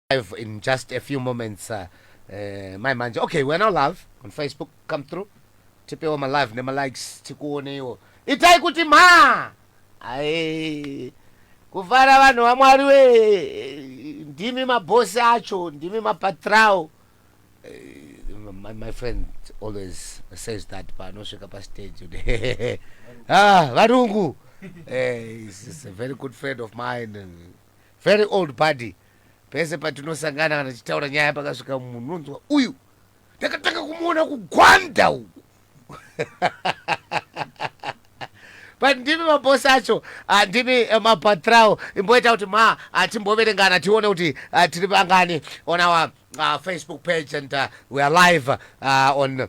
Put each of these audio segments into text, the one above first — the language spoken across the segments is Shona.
live in just a few moments uh, uh, mai manje okay we're now live on facebook come through tipewo malive nemalikes tikuoneiwo itai kuti mhaa ai kufara vanhu vamwari we ndimi mabhosi acho ndimi mapatrao eh, my, my friend always says that paanosvika pastage ah, varungu eh, is a very good friend of mine very old buddy Pese patinosangana kana tichitaura nyaya pakasvika munhu unonzwa uyu ndakatanga kumuona kugwanda uku but ndimi mabosi acho ah, ndimi eh, mapatrao imboita kuti ma ah, timboverengana tione kuti ah, tiri vangani on our ah, facebook page and ah, we are live ah, on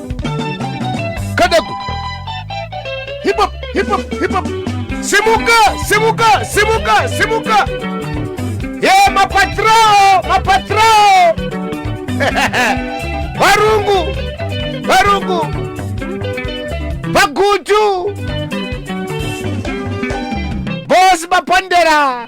kadaku hip hop hip hop hip hop simuka simuka simuka simuka ye mapatrao mapatrao varungu varungu vagutu bosi mapondera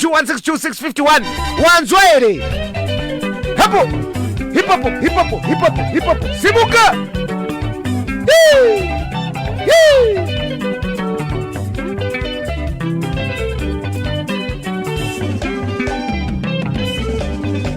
0772162651 wanzwa here hapo hipapo hipapo hipapo hipapo simuka Hii! Hii!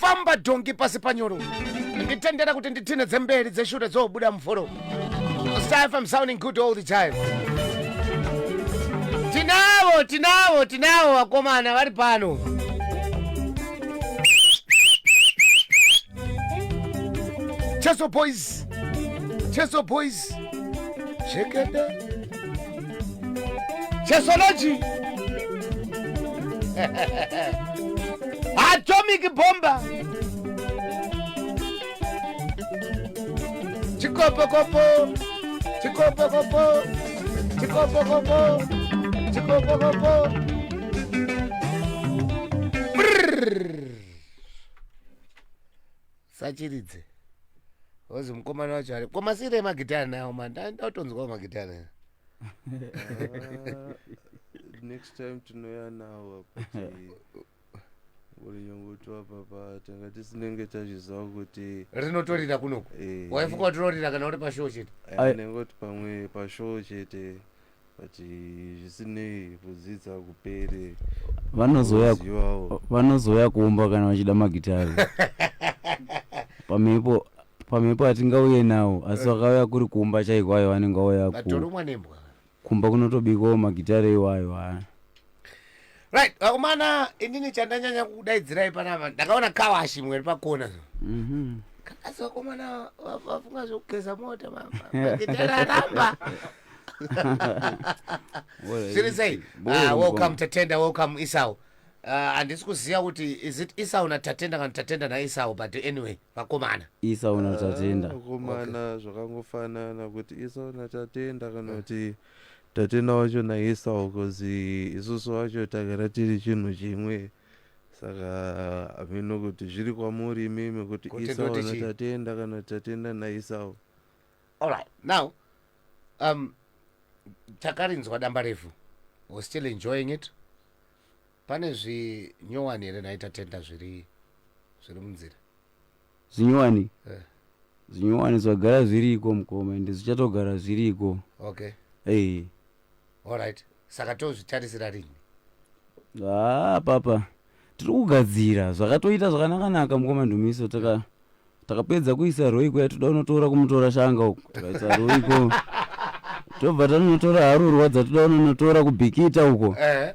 famba dhongi pasi panyoro nditendera kuti nditine dzemberi dzeshure dzobuda mvoro Star FM sounding good all the time tinavo tinavo tinavo vakomana vari pano cheso boys cheso boys jekete chesology atomic bomba chikopokopo chikopokopo chikopokopo chikopokopo sachiridze ozi mukomana wacho ari komasiire emagitare nawo ma ndautonzwawo magitare ah, next time tinoya nawo ulinyongotiwa papa tanga tisinenge tazviziva kuti rinotorira kunoku eh, waifuka kuti rorira kana uri pashow chete eh, anenge kuti pamwe pashow chete but eh, zvisinei kudzidza kupere vanozouya Kuzivawo. vanozouya kumba kana vachida magitari pamhepo pamhepo hatingauye nawo asi vakauya kuri kumba chaiko ayo vanenge vauya ku- vatorumwa nembwa kumba kunotobikwawo magitari iwayo haa right vakomana inini chandanyanya kudaidzirai panapa ndakaona kawashi mweri pakona mhm. asi vakomana vafunga zvekugeza mota maaramba zviri sei ah, welcome tatenda welcome isau Uh, handisi uh, kuziva kuti is it isau natatenda kana tatenda naisau but anyway vakomana isau natatenda ah, vakomana zvakangofanana kuti isau natatenda kana kuti Tatenda wacho naEsau cause isusu wacho tagara tiri chinhu chimwe saka hameno kuti zviri kwamuri imimi kuti Esau naTatenda kana Tatenda naEsau. Alright, now um, takarinzwa damba refu was still enjoying it pane zvinyowani here nhaitatenda zviri zviri munzira zvinyowani Eh. zvinyowani zvagara zviriko mukoma ende zvichatogara zviriko okay Eh, alright saka tozvitarisira rini haa papa tiri kugadzira zvakatoita zvakanakanaka mukoma ndumiso taka takapedza kuisa roiko yatoda unotora kumutora shanga uku tikaisa roiko tobva tanonotora harurwa dzatoda unonotora kubhikita uko eh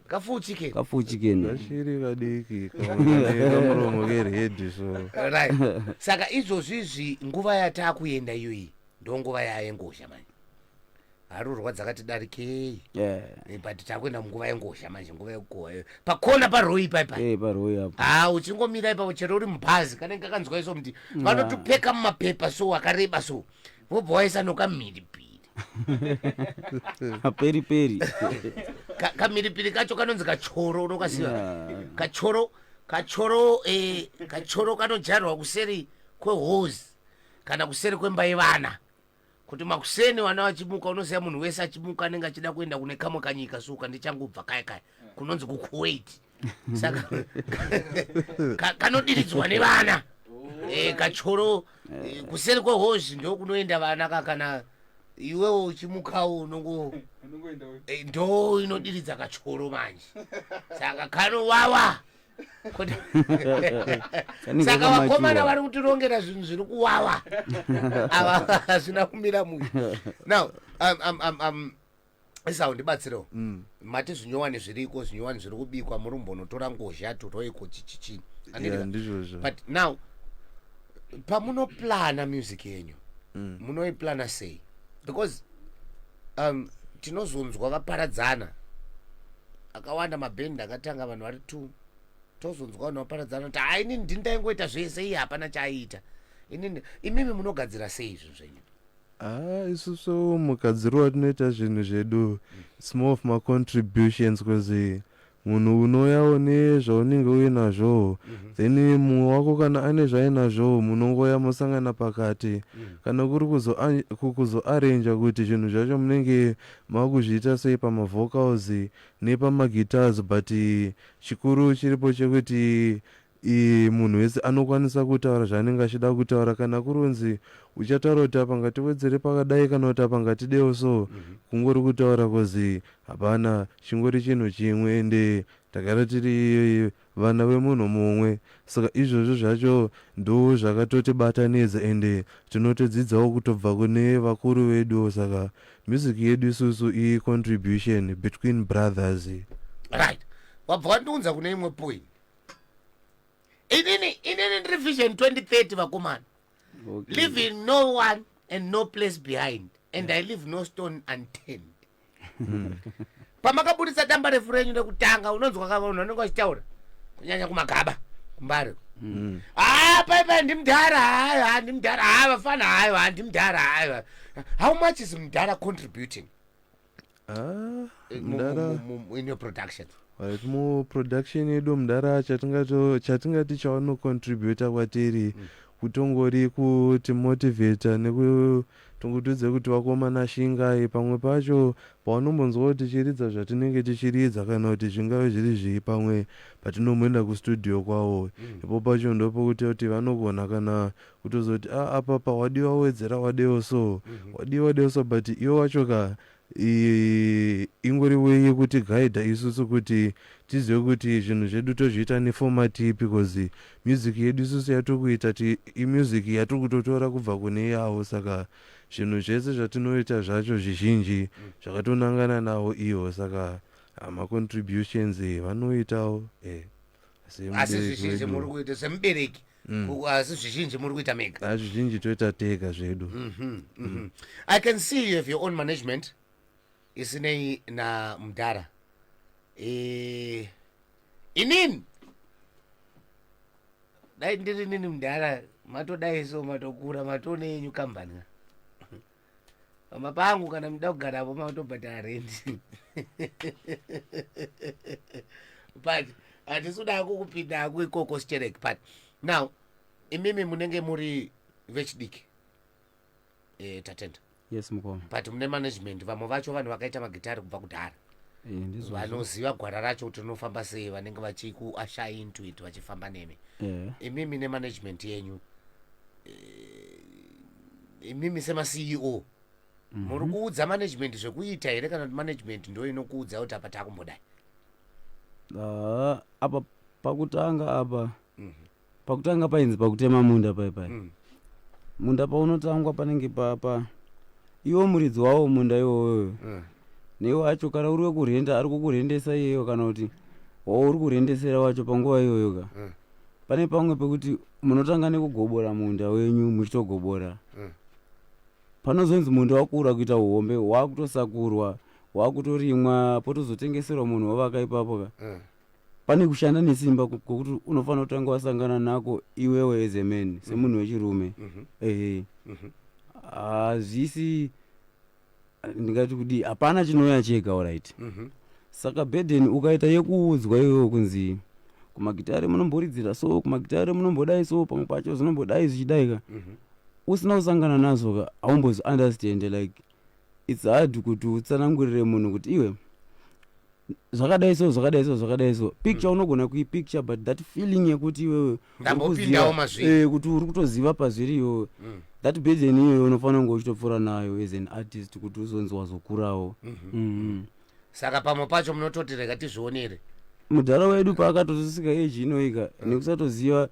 kafuchike kafuchike ne vashiri vadiki kamuromo kerhedhi so right saka izvozvizvi nguva yatakuenda iyoyi ndonguva yayengozha manje harurwa dzakati darikei yeah Eh, but takuenda munguva yengozha manje nguva yekukohwa iyoyo pakona paroi paipa eh paroi apo ha uchingomira ipapo chero uri mubhazi kanenge kakanzwa iso mti vanotopeka mumapepa so akareba so vobva waisa nokamhiripiri peri peri Ka- kamhiripiri kacho kanonzi kachoro unokasiva Yeah. kachoro kachoro eh, kachoro kanojarirwa kuseri kwehozi kana kuseri kwemba yevana kuti makuseni vana vachimuka unoziva munhu wese achimuka anenge achida kuenda kune kamwe kanyika suka ndichangobva kaya kaya kunonzi kukuwait saka ka- kanodiridzwa nevana Eh, kachoro eh, kuseri kwehozvi ndokunoenda vana ka kana iwewo uchimukawo unongo Eh, ndo inodiridza kachoro manje saka kanowawa Kuti- Kanenge saka kamakiwa. vakomana vari kutirongera zvinhu zviri kuwawa ava hazvina kumira mushe now um, um, um, um, esau ndibatsirewo mm. mati zvinyowani zviriko zvinyowani zviri kubikwa muri mbonotora ngozha turoiko chichichii yeah, but now pamunoplana music yenyu mm. munoiplana sei because um, tinozonzwa vaparadzana akawanda mabhendi akatanga vanhu vari two tozonzwa vanhu vaparadzana kuti ha inini ndini ndaingoita zvese iye hapana chaaiita inini imimi munogadzira sei izvi zvenyu Ah, isusu mukadzirowa tinoita zvinhu zvedu its more of macontributions bcause munhu unouyawo nezvaunenge uinazvowo mhm. then mumwe wako kana ane zvainazvowo munongoya mosangana pakati mhm. kana kuri kuzoarranja kuti zvinhu zvacho munenge makuzviita sei pamavocals nepamaguitars but chikuru chiripo chekuti Iye munhu wese anokwanisa kutaura zvaanenge achida kutaura kana kuronzi uchataura kuti apa ngatiwedzere pakadai kana kuti apa ngatidewo so kungori kutaura coz hapana chingori chinhu chimwe ende tagara tiri vana vemunhu mumwe saka izvozvo zvacho ndoo zvakatotibatanidza ende tinotodzidzawo kutobva kune vakuru veduwo saka music yedu isusu i contribution between brothers. Right. Wabva wandiunza kune imwe point. inini inini ndiri vision 2030 vakomana okay. living no one and no place behind and yeah. i live no stone unturned hmm. pamakabudisa damba refu renyu rekutanga unonzwa ka vanhu vanenge vachitaura kunyanya kumagaba kumbari hmm. haa ah, paipai ndimudhara hayo ha ndimudhara ha vafana hayo ha ndimudhara hayo how much is mudhara contributing right muproduction yedu mudhara chatingati chawanocontributa kwatiri mm. kutongori kuti motivata neku tongotidze kuti vakomana shingai pamwe pacho pavanombonzwa kuti tichiridza zvatinenge tichiridza kana kuti zvingave zviri zvii pamwe patinomboenda kustudio kwavo mm. ipo pacho ndopokuti kuti vanogona kana kutozoti a ah, apapa wadiwa wowedzera wadewo so mhm. wadiwa wadewo so but iwe wacho ka ingori weye kuti gaidha isusu kuti tizive kuti zvinhu zvedu tozviita nefomati ipi bcause music yedu isusu yatokuita ti imusic yatokutotora kubva kune yavo saka zvinhu zvese zvatinoita zvacho zvizhinji zvakatonangana navo ivo saka hamacontributions vanoitawo e eh. asi zvizhinji muri kuita semubereki mm. asi zvizhinji muri kuita mega ah, zvizhinji toita tega zvedu mhm, mhm. i can see you have your own management isinei namudhara eh, inini dai ndiri nini mudhara matodai so matokura matone yenyu kambani pamba pangu kana muda kugarapo makutobhadhara rendi but hatisi kuda kukupinda hako ikoko sichereki but now imimi munenge muri vechidiki e, tatenda yes mukoma but mune management vamwe vacho vanhu vakaita magitari kubva kudhara eh, vanoziva gwara racho kuti rinofamba sei vanenge vachikuasha into it vachifamba nemi yeah. imimi nemanagement yenyu e, imimi semaceo mhm. muri kuudza management zvekuita here kana kuti management ndo inokuudza kuti apa takumbodai ah, apa pakutanga apa mhm. pakutanga painzi pakutema munda paipai mm. munda paunotangwa panenge papa iwo muridzi wawo munda iwoyo mm. neiwo wacho kana uri wekurhenda ari kukurhendesa iyeyo kana kuti wawo uri kurhendesera wacho panguva iyoyo ka mm. pane pamwe pekuti munotanga nekugobora munda wenyu muchitogobora mm. panozonzi munda wakura kuita uhombe wakutosakurwa wakutorimwa potozotengeserwa munhu wavaka ipapo ka mm. pane kushanda nesimba kokuti unofanira kutanga wasangana nako iwewe as a man semunhu wechirume mm-hmm. ehe mm-hmm. hazvisi mm -hmm. uh, ndingati kudii hapana chinouya chega orit mhm. saka burden ukaita yekuudzwa iwewo kunzi kumagitare munomboridzira so kumagitare munombodai so pamwe pacho zvinombodai zvichidaika mhm. usina kusangana nazvo ka haumbozi understand like its hard kuti utsanangurire munhu kuti iwe zvakadai so zvakadai so zvakadai so picture mm. unogona kuipicture but that feeling yekuti iwewe ndambopindawo mazviri eh, kuti uri kutoziva pazviri iyoyo mm. that burden iyoyo unofanira kunge uchitopfuura nayo as an artist kuti uzonzi wazokurawo mm -hmm. mm -hmm. saka pamwe pacho munototi rega tizvionere mudhara wedu paakatozosika eji inoika mm. nekusatoziva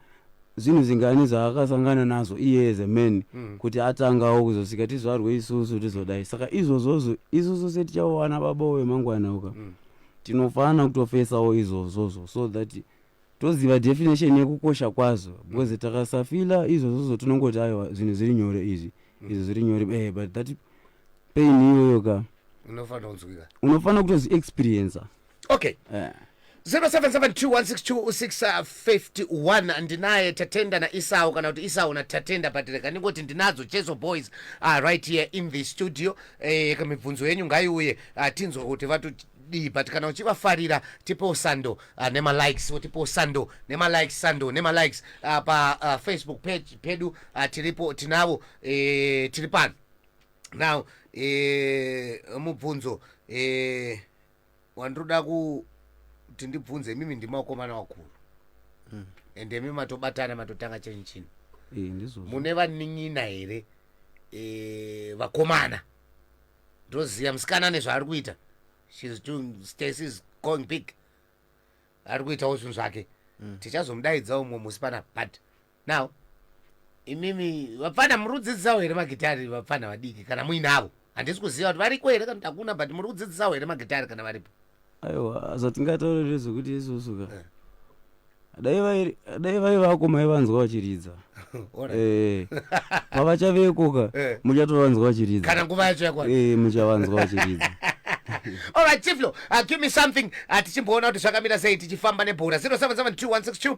zvinhu zvingani zvaakasangana nazvo iye as a man mm. kuti atangawo kuzosvika tizvarwe isusu tizodai saka izvozvozvo isusu setichawana baba vemangwana uka mm. tinofanira kutofesawo izvozvozvo so that toziva definition yekukosha kwazvo because mm. takasafila izvozvozvo tinongoti aiwa zvinhu zviri nyore izvi mm. izvo zviri nyore eh, but that pain iyoyo ka unofanira kutoziexperiencer okay yeah. 0772162651 ndinaye tatenda naisau kana kuti isau natatenda but rega ndingoti ndinadzo cheso boys uh, right here in the studio eh, mibvunzo yenyu ngaiuye uh, tinzwa kuti vatu dii but kana uchivafarira tipewo sando uh, ah, nemalikes wotipewo sando nemalikes sando nemalikes uh, ah, pafacebook ah, uh, page pedu uh, tiripo tinavo eh, tiri pano now eh, mubvunzo eh, wandinoda kuti ndibvunze imimi ndimi vakomana vakuru mm. and imi matobatana matotanga chenyu chino mune vanin'ina here e, vakomana ndoziva musikana ane zvaari kuita shes doing stacy is going big ari kuitawo zvinhu zvake mm. tichazomudaidza umwe musi panapa but now imimi vapfana muri kudzidzisawo here magitari vapfana vadiki kana muinavo handisi kuziva kuti variko here kana takuna but muri kudzidzisawo here magitari kana varipo aiwa zvatingataurire zvekuti isusu ka Eh. dai vai- dai vai vako maivanzwa vachiridza Alright. Eh, pavachaveko ka Eh. muchatovanzwa vachiridza kana nguva yacho yakwana Eh, muchavanzwa vachiridza All right, Tiflo, uh, give me something. Uh, tichimboona kuti zvakamira sei tichifamba nebhora 077216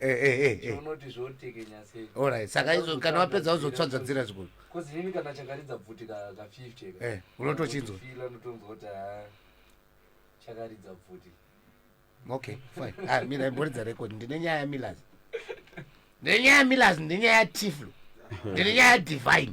Eh, eh, eh, eh. unoti zvotekenya sei Alright, saka izo kana wapedza uzotsvadzadzira zvikuru bcause inini kana chakaridza bvuti ka ka 50 ka Eh, unotochinzwa. Feel anotonzwa kuti haa chakaridza bvuti okay fine ah, mina imboridza record ndine nyaya yamilas ndine nyaya yamilas ndine nyaya yatiflo ndine nyaya yadivine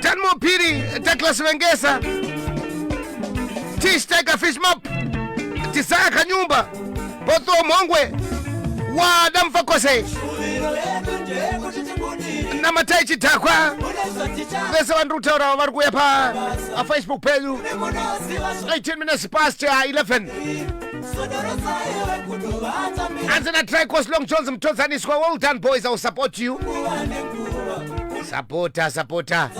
Dan Mopiri, Douglas Vengesa, Tish Tiger Fish Map, Tisaya Kanyumba, Poto Mongwe, Wada Mfakose, Namatai Chidhakwa, vese vandiri kutaura vari kuuya pa Facebook pedu 18 minutes past 11 Anzi na Tricos Long Jones mtodzaniswa. Well done boys, I will support you. Sapota sapota.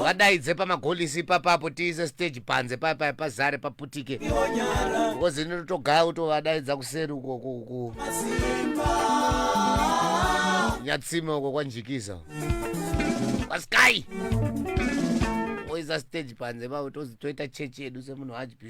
Wadaidze pamagolisi papapo tiise stage panze papa pazare paputike. Because inotogaa utovadaidza kuseri uko ku ku. Nyatsime uko kwanjikiza. Kwaskai. Oisa stage panze pavo tozi toita chechi yedu semunhu hajpi.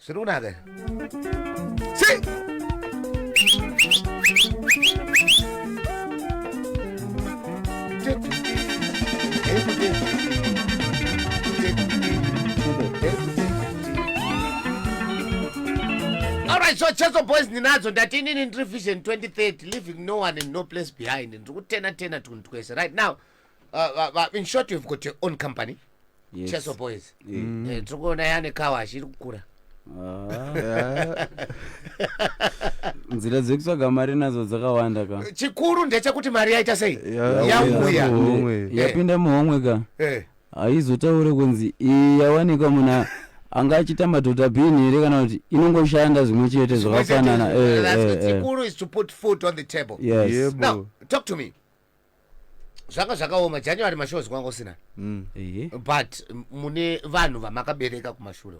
Zviri kunaka. Sei? Alright, so Cheso Boys ndinadzo ndati inini ndiri Vision 2030 leaving no one and no place behind. Ndiri kutena tena tunhu twese right now. Uh, va- va- in short you've got your own company Yes. cheso boys Eh, Eh, tiri kuona yane kawa achiri kukura ah. nzira dzekutsvaga mari nadzo dzakawanda ka chikuru ndechekuti mari yaita sei Yeah, yauya yeah. Muhomwe. yapinda muhomwe ka Eh, haizotaure kunzi iyi yawanikwa muna anga achiita madhodha bhini here kana kuti inongoshanda zvimwe chete zvakafanana Eh, that's eh, good. eh. chikuru is to put food on the table Yes. Yebo. now talk to me zvanga zvakaoma january mashows kwanga usina mm. but mune vanhu vamakabereka kumashure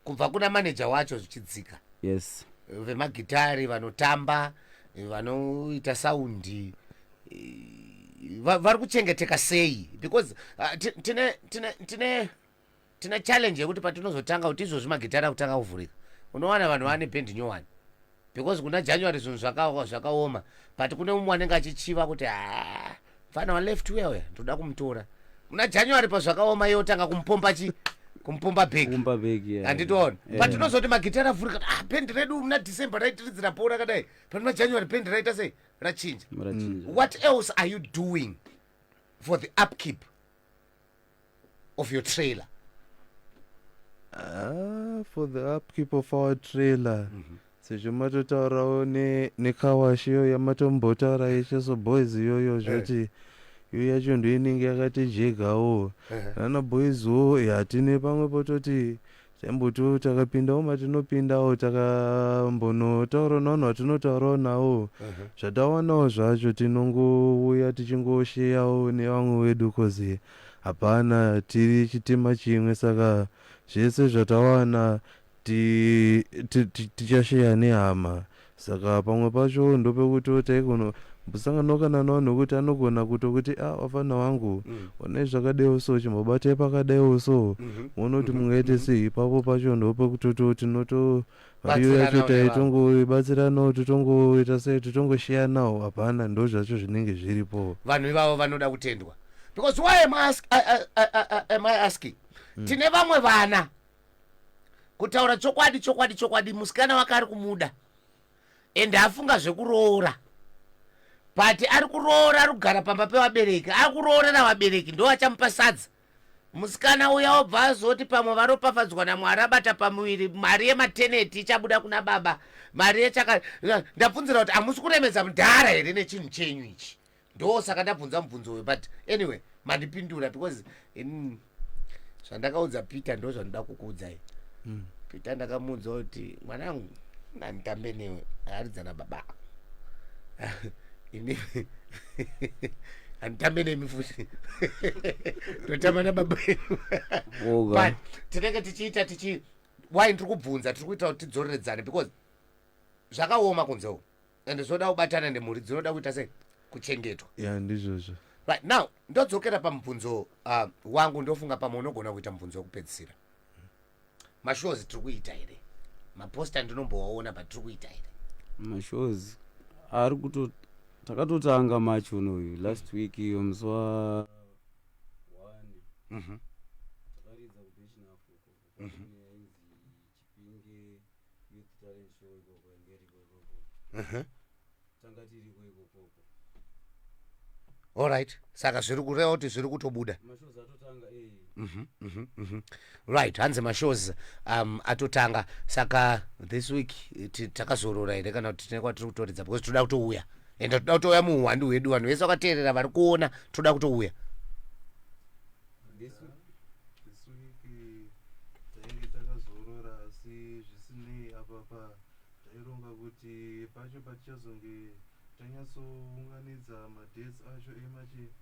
kubva kuna manager wacho zvichidzika yes vemagitari vanotamba vanoita saundi vari kuchengeteka sei because uh, tine tine tine tina challenge yekuti patinozotanga kuti izvozvi magitare akutanga kuvhurika unowana vanhu vane band nyowani because kuna january zvinhu zvakaoma but kune umwe anenge achichiva kuti ah, mfana waleft uya uya ndoda kumutora kuna january pazvakaoma iye otanga kumupomba chi kumupomba bheki handitoona but tinozoti magitare avhurika ah, band redu muna december raitiridzira po rakadai but muna january band raita sei rachinja what else are you doing for the upkeep of your trailer Ah, for the upkeep of our trailer sezvo matotaurawo ne- nekawashi iyo yamatombotaura yeshe so boys iyoyo zvoti iyo yacho ndoinenge yakatijegawo nana boys wo hatine pamwe pototi Sembutu takapindawo matinopindawo takambonotaurawo navanhu vatinotaurawo nawo zvatawanawo zvacho tinongouya tichingosheyawo nevamwe wedu coz hapana tiri chitima chimwe saka zvese zvatawana tichasheya nehama Saka pamwe pacho ndopekuti taikono mbusanganwaka nano vanhu vekuti anogona kuto kuti ah wafana wangu mm. onai zvakadaiwo so chimbobatai pakadaiwo so mm-hmm. moona kuti mm-hmm. mungaite mm-hmm. sei ipapo pacho ndopekutoti tinoto iyo yacho taitongobatsiranawo titongoita sei titongoshiyanawo hapana ndo zvacho zvinenge zviripo vanhu ivavo vanoda kutendwa because why am I ask, I, I, I, I, am I asking mm. tine vamwe vana kutaura chokwadi chokwadi chokwadi musikana wake ari kumuda ende afunga zvekuroora but ari kuroora ari kugara pamba pevabereki ari kuroora navabereki ndo achamupa sadza musikana uya obva azoti pamwe varopafadzwa namwari abata pamuviri mari yemateneti ichabuda kuna baba mari yechaka ndabvunzira kuti hamusi kuremedza mudhara here nechinhu chenyu ichi ndosaka ndabvunza mubvunzo uyo but anyway mandipindura because in zvandakaudza peter ndo zvandida kukuudzai mm. peter ndakamuudza kuti mwanangu nanditambe newe aaridzana baba ini handitambe nemi futi ndotamba nababa but tinenge tichiita tichi why ndiri kubvunza tiri kuita kuti tidzoreredzane because zvakaoma kunze uku and zvoda kubatana nemhuri dzinoda kuita sei kuchengetwa ya ndizvozvo right now ndodzokera pamubvunzo uh, wangu ndofunga pamwe unogona kuita mubvunzo wekupedzisira mashows tiri kuita here maposta ndinombowaona but tiri kuita here mashows ari kuto takatotanga march unoyu last week iyo musi wa one Mhm. takaridza kubechinafuko tanga tiriko ikokoko allright saka zviri kureva kuti zviri kutobuda eh. mhm, mhm, mhm. right hanzi mashows um, atotanga saka this week takazorora here kana kuti tine kwatiri kutoridza because toda kutouya ende toda kutouya muuhwandi hwedu vanhu vese vakateerera vari kuona toda kutouya this week this week tainge takazorora asi zvisinei apapa taironga kuti pacho patichazonge tanyatsounganidza madates acho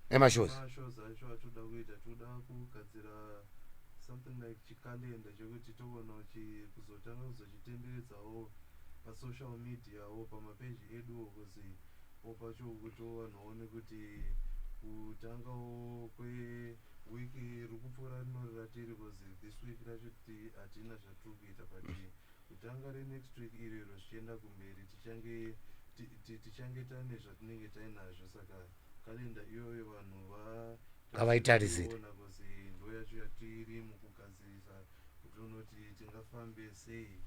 emashows acho atoda kuita toda kugadzira something like chikalenda chekuti togonawo kuzotanga kuzochitenderedzawo pasocial mediawo pamapeji eduwo kuzi Popacho ukuto vanhu vaone kuti kutangawo kwe week rikupfuura rinori ratiri because this week racho hatina zvatiri kuita but kutanga renext week irero zvichienda kumberi tichange tichange tane zvatinenge tainazvo saka kalenda iyoyo vanhu vavaitarisira ndo yacho yatiri mukugadzirisa kuti unoti tingafambe sei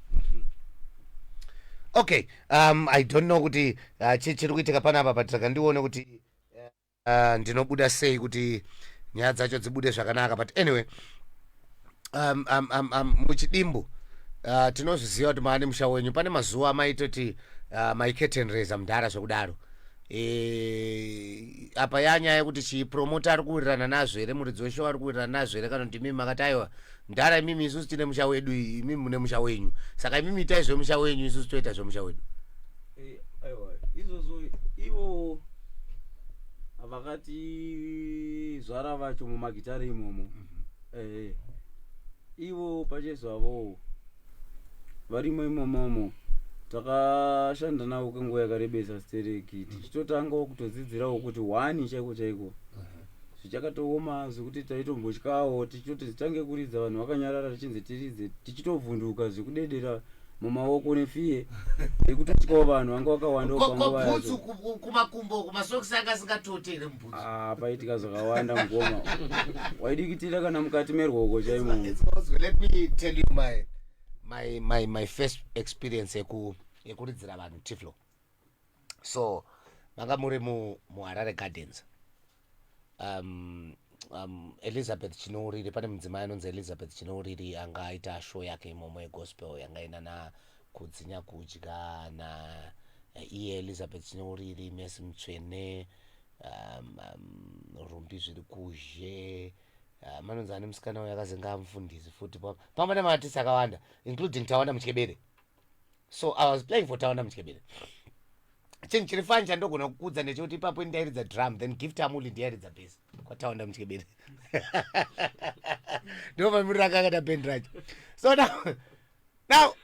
okay um i don't know kuti uh, chiri kuitika panapa but saka ndione kuti uh, ndinobuda sei kuti nyaya dzacho dzibude zvakanaka but anyway um, um, um, um, muchidimbu uh, tinozviziva kuti maane musha wenyu pane mazuva amaitoti uh, maiketenreza mudhara zvekudaro Eh, apa e, yanyaya yekuti chipromota ari kuwirirana nazvo here muridzi weshow ari kuwirirana nazvo here kana kuti imimi makati aiwa ndara imimi isusu tine musha wedu imimi mune musha wenyu saka imimi itai zvemusha wenyu isusu toita zvemusha wedu eh, aiwa izvozvo ivo vakati zvara vacho mumagitare imomo mm -hmm. eh, eh. ivo pachezvavowo varimo imomomo takashanda navo kwenguva yakarebesa stereki tichitotangawo kutodzidzirawo kuti hwani chaiko chaiko zvichakatooma zvekuti taitombotyawo tichitoti zitange kuridza vanhu vakanyarara tichinzi tiridze tichitovhunduka zvekudedera mumaoko nefiye yekutotyawo vanhu vanga wakawanda Ko- ko panguva bhutsu yacho ku- ku- kumakumbo kumasokisi anga asingatote here Ah, paitika zvakawanda mukoma waidikitira kana mukati merwoko chaimo It's possible. Let me tell you my my my my first experience yeku yekuridzira vanhu tiflo. So manga muri mu muHarare Gardens. Um, um, Elizabeth Chinouriri pane mudzimai anonzi Elizabeth Chinouriri anga aita show yake imomo yegospel yanga ina na kudzinya kudya na eh, iye elizabeth chineuriri mesi mutsvene um, um, rumbi zviri kuzhe uh, manonzi ane musikana uyo akazenga amufundisi futi pamba nemaatisi akawanda including tawanda mutyebere so i was playing for tawanda mutyebere chinhu chiri fani chandogona kukudza ndechekuti ipapo ini ndairidza drum then gift amuli ndiyairidza base kwataunda muchikeberi ndomamirira akakata bendi racho so now now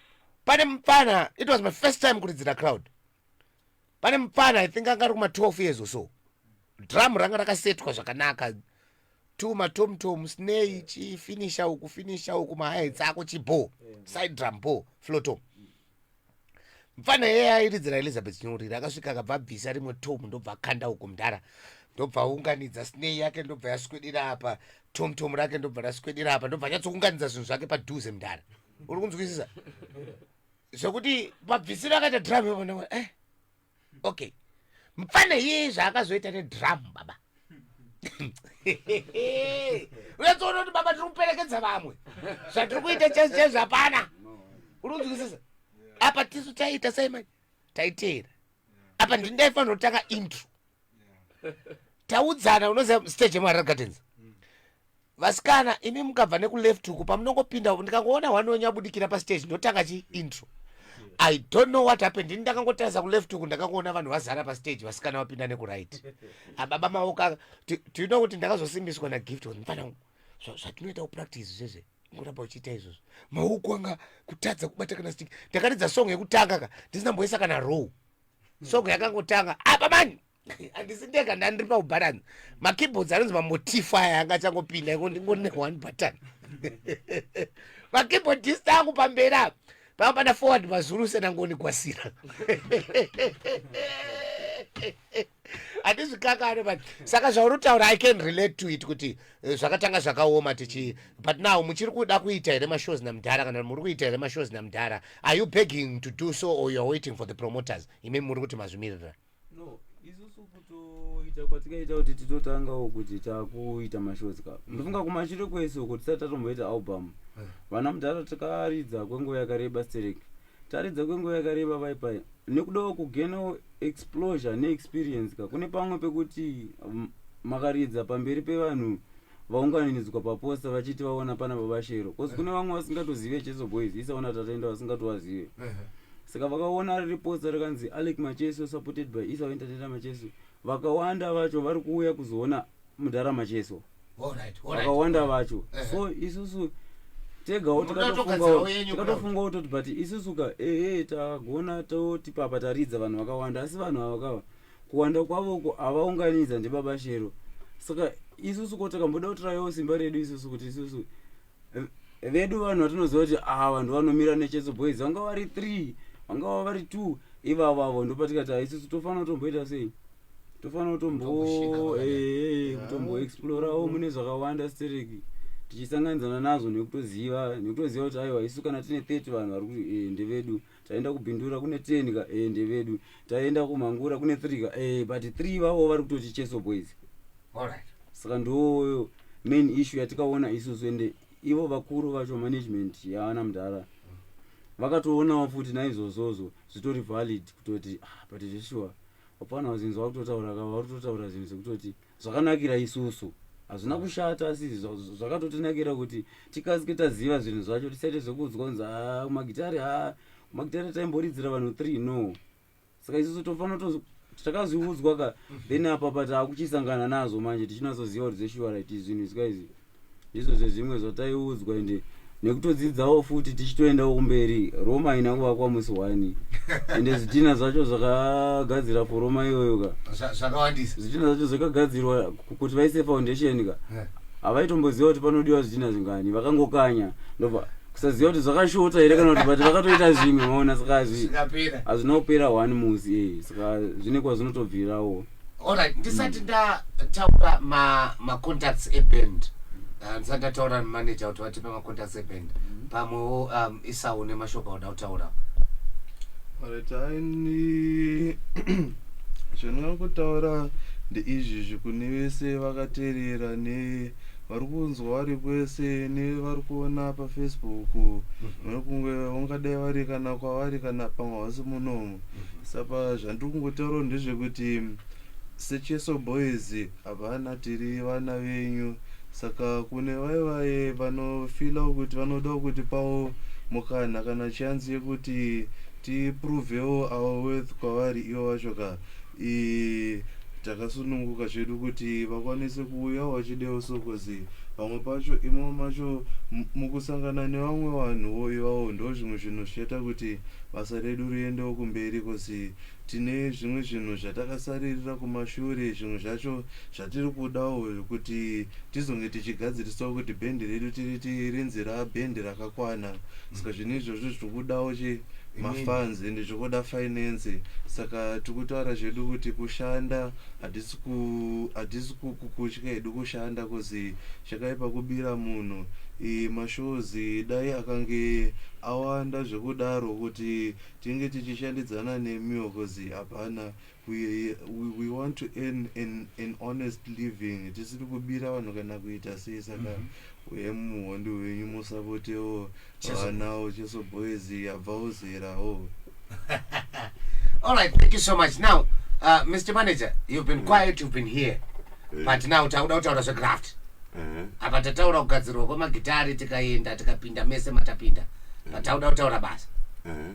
pane mupfana it was my first time kuridzira crowd pane mupfana i think anga ari kuma 12 years or so drum ranga rakasetwa zvakanaka two matomtom snei chifinisha uku finisha uku mahaits ako chibo side drum bo flotom mfana yeye airidzira elizabeth nyoriri akasvika akabva abvisa rimwe tom ndobva akanda uku mdhara ndobva aunganidza snei yake ndobva yaswedera apa tom tom rake ndobva raswedera apa ndobva nyatsokunganidza zvinhu zvake padhuze mudhara uri kunzwisisa zvekuti mabvisiro akaita drum yobona eh okay mfana yeye zvaakazoita nedrum baba uyatsoona kuti baba tiri kuperekedza vamwe zvatiri kuita chese chese hapana uri kunzwisisa apa tisu taiita sei manje taiteera apa ndini ndaifanira kutanga intro taudzana unoziva stage yemuharare gardens mm. vasikana imi mukabva nekuleft huku pamunongopinda uku ndikangoona one wenyu abudikira pastage ndotanga chi intro i don't know what happened ini ndakangotarisa kuleft huku ndakangoona vanhu vazara pastage vasikana vapinda nekuright ababa maoka tiuno kuti ndakazosimbiswa nagift kuti mfana zvatinoita kupractice zvezve ngoramba uchiita izvozvo mauku anga kutadza kubata kana stiki ndakaridza song yekutanga ka ndisina mboisa kana row song yakangotanga apa mani handisi ndega ndandiri paubharanzi makeyboards anonzi mamotifu aya anga achangopinda ingone one button makeyboardist angu pamberi apa panga pana forward mazulu senangonigwasira handizvikakane but saka zvaunotaura i can relate to it kuti eh, zvakatanga zvakaoma tichi but now muchiri kuda kuita here mashows namudhara kana muri kuita here mashows namudhara are you begging to do so or youare waiting for the promoters imi muri kuti mazvimirira no isusu kutoita kwatikaita kuti titotangawo kuti takuita mashows ka ndofunga kumashure kwese uko tisati tatomboita album eh. vana mudhara tikaridza kwenguva yakareba stereki taridza kwenguva yakareba pai pai nekudawo kugenawo explosure neexperience ka kune pamwe pekuti mm, makaridza pamberi pevanhu vaunganidzwa paposta vachiti vaona pana baba shero bcause kune vamwe vasingatozive cheso boys isaona tatenda vasingatovazive saka vakaona riri posta rikanzi alec macheso supported by isa entertainer macheso vakawanda vacho vari kuuya kuzoona mudhara macheso vakawanda vacho so isusu tegawo tikatofungawo toti but isusu ka ehe tagona toti papa taridza vanhu vakawanda asi vanhu ava kava kuwanda kwavoko avaunganidza ndibaba shero saka isusu ko takamboda kutirayawo simba redu isusu kuti isusu vedu vanhu vatinoziva kuti aa ah, vanhu vanomira necheso boys vanga vari three vanga va vari two ivavo avo ndopatikati ah, isusu tofanira kutomboita sei tofanira kutomboexplorawo eh, eh, eh, mune zvakawanda stereki tichisanganidzana nazvo nekutoziva nekutoziva kuti aiwa isu kana tine thirty vanhu vari kuti ndevedu taenda kubindura kune ten ka eh, ndevedu taenda kumangura kune three ka eh, but three vavo vari kutoti cheso boys Alright. saka ndooyo main issue yatikaona isusu ende ivo vakuru vacho management yaana mudhara vakatoonawo futi naizvozvozvo zvitori valid kutoti ah, but zveshuwa hapana vazinzi vakutotaura ka vari kutotaura zvinhu zvekutoti zvakanakira isusu hazvina kushata asi zvakatotinakira kuti tikasike taziva zvinhu zvacho tisaite zvekuudzwa kunzi ah, magitari ha ah, magitari taimboridzira vanhu three no saka isusu tofana takazviudzwa ka then apapa taakuchisangana nazvo manje tichinatsoziva kuti zveshuwa right zvinhu izika izvi ndizvo zvezvimwe zvataiudzwa ende nekutodzidzawo futi tichitoendawo kumberi roma haina kuvakwa musi wani ende zvitina zvacho zvakagadzira for roma iyoyo ka Zva- zvakawandisa zvitina zvacho zvakagadzirwa ku- kuti vaise foundation ka Eh. havaitomboziva kuti panodiwa zvitina zvingani vakangokanya ndobva kusaziva kuti zvakashota here kana kuti but vakatoita zvimwe maona saka hazvi- zvikapera hazvina kupera one musi eh, saka zvine kwazvinotobvirawo Alright, ndisati mm. ndataura ma ma contacts e band. Uh, ndisati ndataura na manager kuti vatipe ma contacts e band. Mm. Pamwewo um isawo ne mashoko oda kutaura. Alright, I need zvinoda kutaura ndeizvi zvikuni vese vakaterera ne vari kunzwa vari kwese nevari kuona pafacebook mhm. nokunge ungadai vari kana kwavari kana pamwe hausi munomu sapa zvandiri kungotaura ndezvekuti secheso boys hapana tiri vana venyu saka kune vaye vaye vanofila kuti vanoda kuti pawo mukana kana chanzi yekuti tiprovewo our worth kwavari ivo vacho ka takasununguka zvedu kuti vakwanise kuuya vachidewo sokozi vamwe pacho imo macho mukusangana nevamwe vanhuwo ivawo ndo zvimwe zvinhu zvichaita kuti basa redu riendewo kumberi kozi tine zvimwe zvinhu zvatakasaririra kumashure zvimwe zvacho zvatiri kudawo kuti tizonge tichigadzirisawo kuti bhendi redu tiriti rinzi rabhendi rakakwana saka zvinhu izvozvo zviri kudawo mafans ende zvekuda finance saka tikutaura zvedu kuti kushanda hatisi kukutya hedu kushanda kozi chakaipa kubira munhu mashows dai akange awanda zvekudaro kuti tinge tichishandidzana nemiwo kozi hapana we, we, we want to earn an, an honest living tisiri kubira vanhu kana kuita sei saka mm -hmm. uye muhondi wenyu musapotewo vanawo cheso boys yabvawo zerawo all right thank you so much now uh, mr manager you've been mm. quiet you've been here mm. but now takuda kutaura zvegraft uh -huh. apa tataura kugadzirwa kwemagitari tikaenda tikapinda mese matapinda mm. but takuda kutaura basa uh -huh.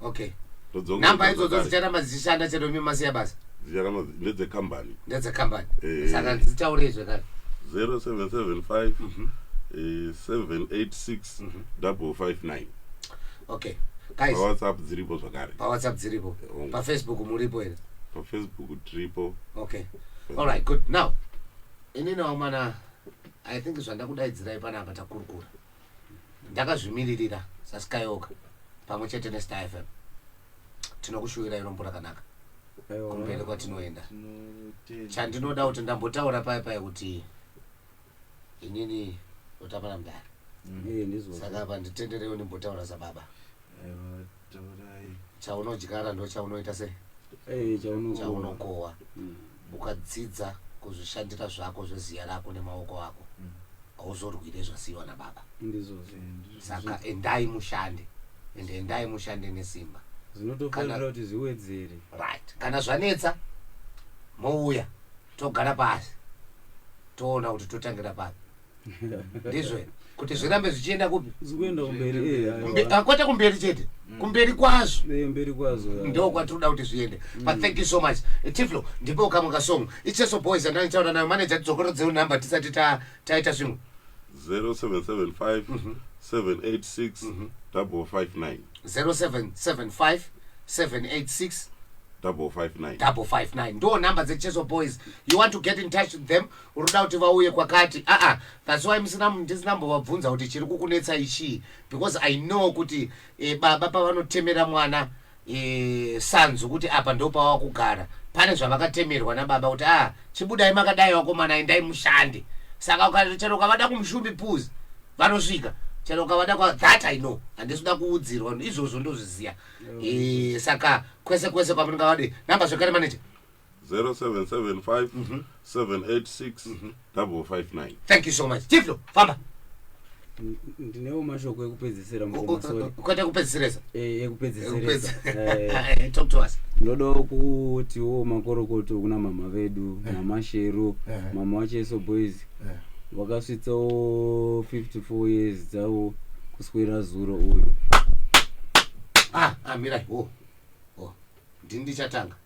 okay Todzokera number idzodzo zvakare. dzicharamba dzichishanda chero imi masiya basa Dzicharamba dzi- ndedzekambani ndedzekambani Eh. saka dzitaurei zvekare 0775 eh, 786 double 59 okay guys pawhatsapp dziripo zvakare pawhatsapp dziripo Oh. pafacebook muripo here pafacebook tiripo okay all right good now inini wamana i think zvandakudaidzirai panapa takurukura ndakazvimiririra saskayoka pamwe chete nestar fm tinokushuvirai rombo rakanaka kumberi kwatinoenda chandinoda kuti ndambotaura paya paya kuti inini utamana mudhara saka apa nditenderewo ndimbotaura sababa chaunodyara ndo chaunoita se eh, chaunokohwa mm. ukadzidza kuzvishandira zvako zveziya rako nemaoko ako mm. hauzorwire zvasiyiwa nababa saka endai mushande and endai mushande nesimba zvinotofanira kuti zviwedzere right kana zvanetsa mouya togara pasi toona kuti totangira papi ndizvo kuti zvirambe zvichienda kupi zvikuenda kumberi eh, aiwa. Kumbe- ah, kwete kumberi chete kumberi kwazvo Eh, mberi kwazo ya. ndo kwatinoda kuti zviende but thank you so much Eh, tiflo ndipo kamwe kasong icheso boys andandichaura nayo manager tidzokero dzeu number tisati ta- taita zvimwe 0775 786 559 0775 786 559 double five nine ndo number dzecheso boys you want to get in touch with them unoda kuti vauye kwakati aa that's why musina ndisina mbovabvunza kuti chiri kukunetsa ichii because i know kuti e, baba pavanotemera mwana e, sanzu kuti apa ndo pava kugara pane zvavakatemerwa nababa kuti aa chibudai makadai vakomana endai mushande saka ukachero ukavada kumushumbi puz vanosvika chero ukavada kwa that i know handisi kuda kuudzirwa izvozvo ndozviziva e, saka kwese kwese kwamunenge vadi namba zvekare maneja 0775 786 559 thank you so much tiflo famba N- ndinewo mashoko ekupedzisira mukoma sorry ukaita kupedzisiresa Eh, ekupedzisirisa Eh, talk to us ndodawo kutiwo makorokoto kuna mama vedu mama shero Eh. mama wacheso boys Eh. vakasvitsawo 54 years dzavo kuswera zuro uyu ah ah mirai oh oh ndini ndichatanga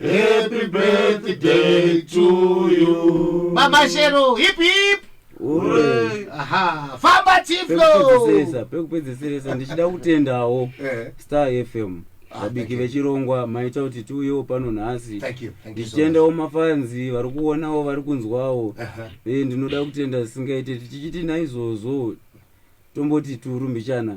Happy birthday to you. Mama Shero, hip hip. Ure. Aha, famba Tiflo. Pekupedzesesa, pekupedzesesa ndichida kutendawo eh. Star FM. Ah, vabiki vechirongwa maita kuti tiuyewo pano nhasi ndichitendawo mafanzi vari kuonawo vari kunzwawo e ndinoda kutenda zvisingaite tichiti naizvozvo tomboti turu mbichana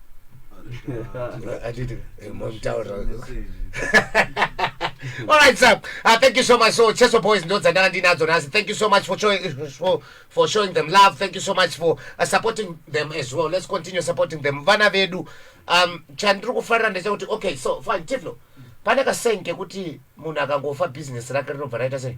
Alright, sir. Uh, thank you so much. So, Cheso Boys, Notes, and Andy Nazonas, thank you so much for showing, for, for showing them love. Thank you so much for uh, supporting them as well. Let's continue supporting them. Vana vedu, um, chandiri kufarira ndechekuti, okay, so, fine, Tiflo, pane kasenge kuti munhu akangofa business rake rinobva raita sei?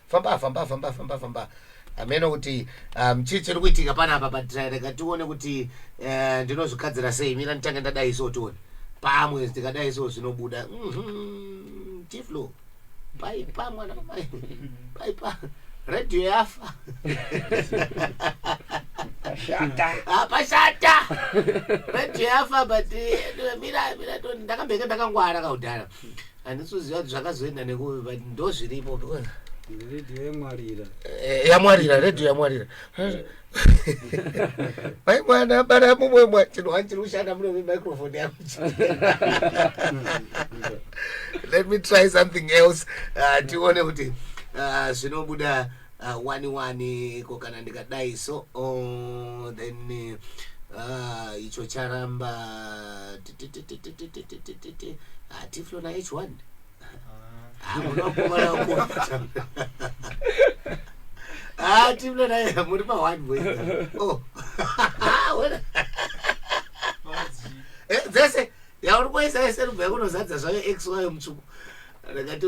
famba famba famba famba famba hameno kuti um, chii chiri kuitika pana apa but uh, rega tione kuti uh, ndinozvigadzira sei mira nditange ndadai so tione pamwe ndikadai so zvinobuda Mhm, tiflo paipa mwana wamai paipa radio yafa Shata. Ah, pashata radio yafa but eh, mira mira to- ndakambenge ndakangwara kaudhara handisi kuziva kuti zvakazoenda nekupi but ndozviripo because redio yamwarira Eh, yamwarira redio yamwarira mai mwana bara mumwe mwa chinhu wani chiri kushanda muno microphone yangu let me try something else Ah, tione kuti ah, zvinobuda uh, wani wani ko kana ndikadai so oh, then uh, icho charamba hatiflo na h one hatiflo na muri pa one boy oh dzese yauri kuisa yese rubva yakunozadza zvayo x wayo mutsvuku ndakati